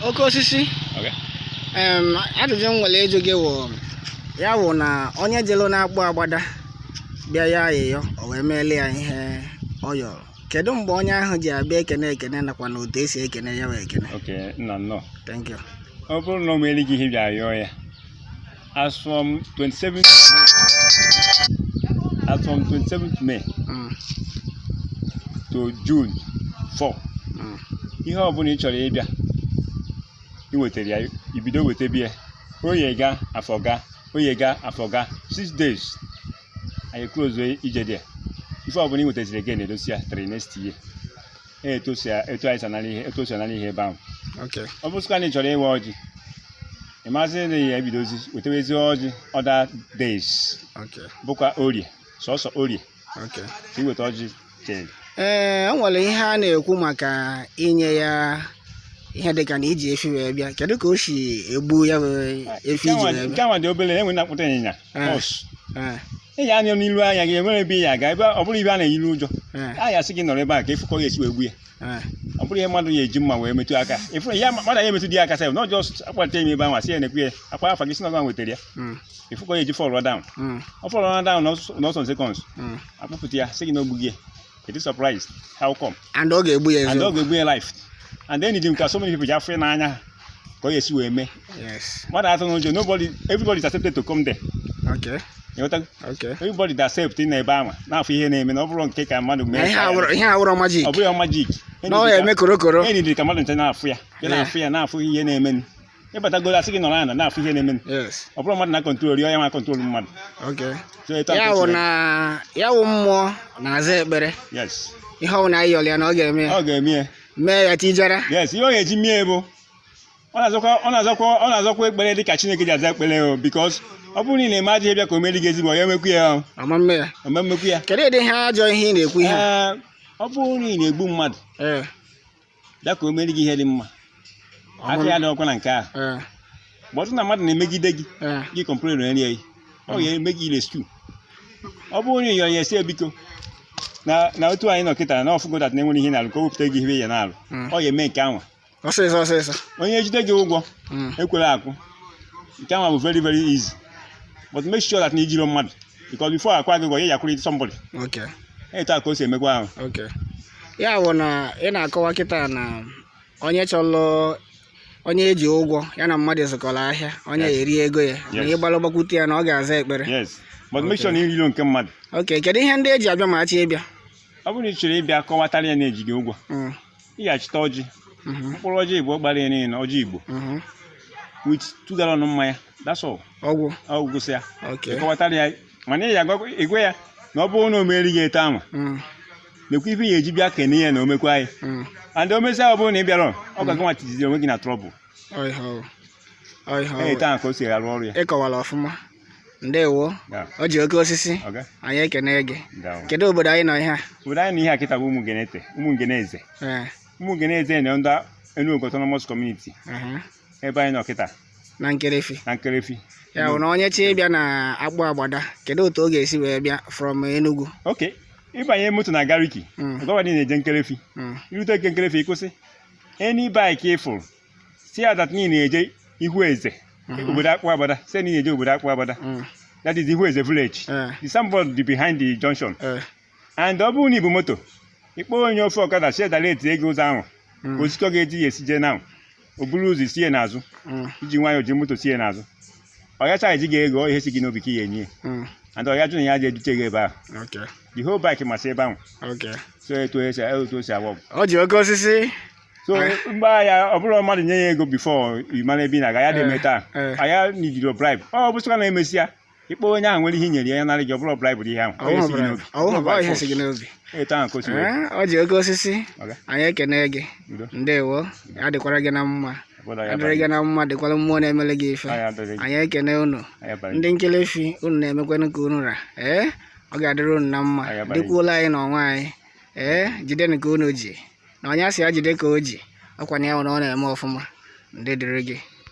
oke osisi Okay. em, ajụjụ m nwere ịjụ gị wụ ya wụ na onye jelu n'Akpụ Agbada bịa ya ayịyọ o wee meele ya ihe ọ yọrọ kedu mgbe onye ahụ ji abịa ekene ekene nakwa na otu esi ekene ya wee ekene Okay, nna nnọọ. thank you ọ bụrụ na o meere gị ihe ị bịa yọọ ya as from 27th May as from 27th May mm. to June 4 mm. ihe ọbụla ị chọrọ ịbịa iwetara ya i bido wetebe ya oye ga afọ ga oye ga afọ ga six days anyị close ije dị ya ife ọbụla ị wetaziri gị na-edosi ya till next year ee, etu o si a- etu anyị si anara ihe etu o si anara ihe ebe ahụ Okay. ọ bụrụkwa na ị chọrọ ịwa ọjị ị maazị na ị ya-ebidozi wetewezi ọjị other days Okay. bụkwa orie sọsọ orie Okay. ka ị weta ọjị chee ee o nwere ihe a na-ekwu maka inye ya ihe dịka na iji efi wee bịa kedu ka o si egbu ya bụ efi iji wee bịa nke anwa dị obere e nwee na-akpụta ịnyịnya Eh. horse Ee. ị ya anya n'ilu anya gị e nwere ebe ị ya-aga ebe ọ bụrụ ihe a na-eyi gị ụjọ Eh, a ya-asị gị nọrọ ebe a ka ị fụ ka a ya-esi wee gbu ya eh, ọ bụrọ ihe mmadụ ya-eji mma wee metụ aka ịfụrụ ya mmadụ ya-emetụdị ya aka sef na just akpalite ime ebe ahụ a sị ya na-ekwu ya akpọ afa gị sị na gịwa wetara ya mm, ị fụ ka ọ ya-eji fall down mm, ọ fall down n'ọsọ seconds mm, a kpụpụta ya sị gị na o gbugo ya It is surprised. How come? And ọ ga-egbu ya And ọ ga-egbu ya live. And then because so many people ji afụ n'anya ka ọ ga-esi wee mee. Yes. Mmadụ atụna ụjọ nobody everybody is accepted to come there. Okay. Ịghọtago? Okay. Everybody is accepted na ebe ahụ na-afụ ihe na-eme na ọ bụrọ nke aka mmadụ mee. Ihe a wụrọ magic. Ọ bụghị magic. Na ọ ya-eme korokoro. Enyi dị ka mmadụ ncha na-afụ ya. Ya na-afụ ya na-afụ ihe na-emenụ. ị batagoro a sị gị nọrọ ana na-afụ ihe na-eme yes ọ bụrọ mmadụ na-acontrol ya ọ ya na-acontrol mmadụ okay so etu a ya-akọwa sị na ya wụ mmụọ na-aza ekpere mee. yes ihe ọwụna anyị yọrọ ya na ọ ga-eme ya ọ ga-eme ya mee ya tijara yes ihe ọ ga-eji mee bụ ọ na-azakwa ọ na-azakwa ọ na-azakwa ekpere dị ka chineke ji aza ekpere o because ọ bụrụ na ị na-eme ajọ ihe bịa ka o meere gị ezigbo ya emekwu ya o ọ ma mme ya ọ ma mmekwu ya kedu ụdị ihe ajọ ihe ị na-ekwu ihe a? Ee, ọ bụrụ na ị na-egbu mmadụ ee bịa ka o meere gị ihe dị mma aka ya adịrọkwa na nke ahụ ee but na mmadụ na-emegide gị ee gị complainụrụ ya ọ ga-eme gị rescue ọ bụrụ onye yọrọ ya sị ya biko na na otu anyị nọ kịta na ọ fụgo that na e nwerọ ihe na-alụ ka o wepụta gị ihe ị ya na-alụ Mm. ọ ga-eme nke anwa ọsịsọ ọsịsọ onye jide gị ụgwọ Mm. ekwere akwụ nke anwa bụ very very easy but make sure that na i jirọ mmadụ because before a kwụọ gị ụgwọ ya ya-akwụrụ somebody ok etu a ka o si emekwa ahụ ok ya bụ na ị na-akọwa kịta na onye chọrọ onye e ji ụgwọ ya na mmadụ zụkọrọ ahịa onye Yes. eri ego ya na Yes. ị gbara gbakwute ya na ọ ga-aza ekpere yes but make sure na i rilọ nke mmadụ ok kedu ihe ndị e ji abịa ma a chọ ịbịa ọ bụrụ na ị chọrọ ịbịa kọwatara ya na e ji gị ụgwọ Mm, ị ga-achịta ọjị mhm, mkpụrụ ọjị igbo gbara ya niile ọjị igbo mhm. with two gallon mmanya that's all ọ gwụ ọ gwụsịa ok ị kọwatara ya mana ị ya-agwa- ị gwa ya na ọ bụrụ na o meere gị etu ahụ Mm, nekwa ife ị ya-eji bịa kene ya na o mekwa anyị mm. and o mesịa ọ bụrụ na ị bịarọ ọ gị nwa tinyeziri onwe gị na trouble Ọ ihe ọ bụ. Ọ ihe ọ bụ. etu ahụ ka o si arụ ọrụ ya ị kọwara ọfụma ndewo Ya, ọjị oke osisi ọga anyị ekene gị daalụ. kedu obodo anyị nọ ihe a obodo anyị nọ ihe a kịta bụ ụmụ ngeneze ụmụ ngeneze Ee, ụmụ ngeneze na ndị Enuogu Autonomous Community aha. ebe anyị nọ kịta na nkerefi na nkerefi ya bụ na onye chọ ịbịa na akpụ agbada kedu otu ọ ga-esi wee bịa from Enugu ok ị banye moto na gariki mm, gọvanọ na-eje nkerefi mm, i rute nke nkerefi ị kwụsị any bike ị fụrụ sị ya that na ị na-eje ihu eze mhm, obodo akpụ agbada sị na ị na-eje obodo akpụ agbada mm, that is ihu eze village eh, the signboard dị behind the junction eh. and ọ bụrụ na i bu moto ị kpọọ onye ofu ọkada si edara etinye gị ụzọ ahụ ka osikọ ga-eji ya esi jee n'ahụ o buru ụzọ sie n'azụ Mm. i ji nwayọọ ji moto sie n'azụ ọ ga-acharge gị ego ihe si gị n'obi ka ị ga-enye ya Mm. and ọ ya jụ na ya ji edute gị ebe ahụ Okay. the whole bike masị ebe ahụ Okay. so etu esi etu o si agba ọgwụ Ọjị oke osisi. so mgbe ahụ ọ bụrụ mmadụ nye ya ego before ị mara ebe ị na-aga ya dị eme taa Eh. aya nidiro bribe ọ bụsịkwa na e mesịa ị kpọọ onye ahụ nwere ihe i nyere ya ya nara gị ọ bụrọ bribe bụ ihe ahụ Ọ bụrụ na- ọ bụrụ na ọ ihe si gị n'obi etu ahụ ka o si wee Ee, ọjị oke osisi Ọga. anyị ekene gị Udo. ndewo ya dịkwara gị na mma Obodo ya adịrị gị na mma dịkwara mmụọ na-emere gị ife Anyị adịrị gị. anyị ekene unu Anyị abalị. ndị nkerefi unu na-emekwanụ ka unu ra ee ọ ga-adịrị unu na mma Anyị abalị. dịkwuola anyị n'onwe anyị ee jidenụ ka unu ji na onye a sị ya jide ka o ji ọ kwa na o nwere ọ na-eme ọfụma ndụ dịrị gị